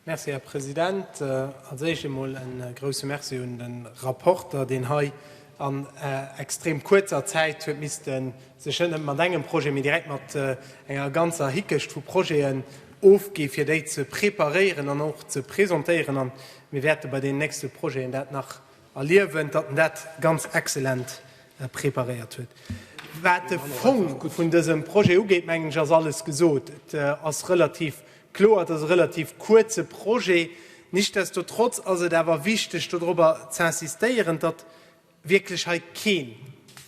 Merci, Här President. Als Éischt emol e grouse Merci un de Rapporter, deen hei an extrem kuerzer Zäit huet misste sech net nëmme mat engem Projet, mee direkt mat enger ganzer Hickecht vu Projeten ofginn, fir déi ze preparéieren an och ze presentéieren. A mir wäerte bei deenen nächste Projeten dat nach Erliewen, datt en dat ganz excellent preparéiert huet. Wat de Fong vun dësem Projet ugeet, mengen ech, ass alles gesot. Et ass relativ kloer, et ass e relativ kuerze Projet. Nichtsdestotrotz ass et awer wichteg, dodrobber z'insistéieren, datt wierklech hei keen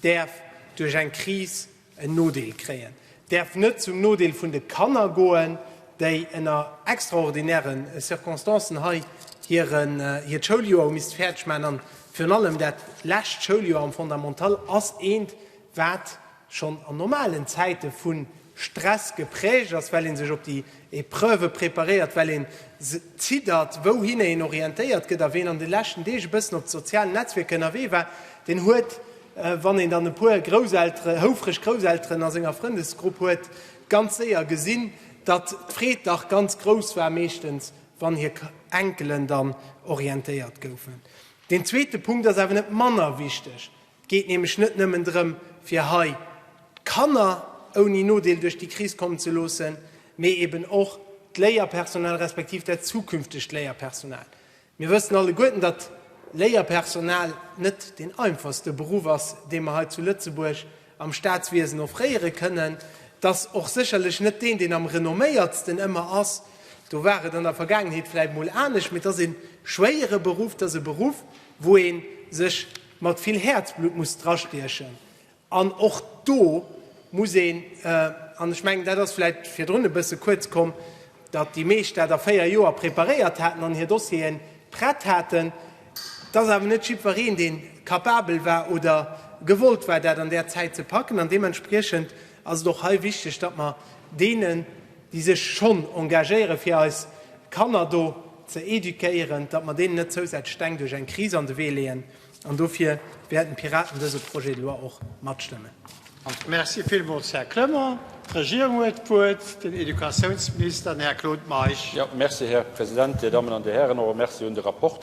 däerf duerch eng Kris en Nodeel kréien, däerf net zum Nodeel vun de Kanner goen, déi ënner extraordinäre Circonstancen hei hiert Schouljoer hu misste fäerdeg maachen. An virun allem dat lescht Schouljoer am Fondamental ass eent, wat schonn an normalen Zäite vu Stress geprägt ass, well ee sech op déi Epreuve preparéiert, well ee ziddert, wouhinner een orientéiert gëtt. A ween an de leschten Deeg e bëssen op de sozialen Netzwierker ënnerwee war, deen huet, Wann een dann e puer Grousselteren, houfreg Grousselteren a senger Frëndesgrupp huet, ganz séier gesinn, datt d'Freed dach ganz grouss war, meeschtens wann hir Enkelen dann orientéiert goufen. Deen zweete Punkt ass awer net manner wichteg. Et geet nämlech net nëmmen drëm, fir hei d'Kanner ouni Nodeel duerch déi Kris kommen ze loossen, mee eben och d'Léierpersonal, respektiv dat zukünftegt Léierpersonal. Mir wëssen alleguerten, datt Léierpersonal net deen einfachste Beruff ass, dee mer hei zu Lëtzebuerg am Staatswiesen offréiere kënnen. Et ass och sécherlech net deen, deen am renomméiertsten ëmmer ass, do war et an der Vergaangenheet vläit mol anescht, mee et ass e schwéiere Beruff, et ass e Beruff, wou ee sech mat vill Häerzblutt muss drastiechen. An och do muss een, an ech mengen, dat ass vläicht virdrun e bësse kuerz komm, datt déi meescht dat a véier Joer preparéiert haten an hir Dossiere prett haten, et ass awer net jiddwereen, dee capabel war oder gewollt war, dat an där Zäit ze packen. An deementspriechend ass et och hei wichteg, datt mer deenen, déi sech schonn engagéieren, fir eis Kanner do ze éduquéieren, datt mer deenen net zousätzlech Steng duerch eng Kris an de Wee leeën. An dofir wäerten d'Piraten dëse Projet de loi och matstëmmen. Merci villmools, Här Clement. D'Regierung huet d'Wuert, den Educatiounsminister, den Här Claude Meisch. Merci, Här President, Dir Dammen an Dir Hären, och e Merci un de Rapporter.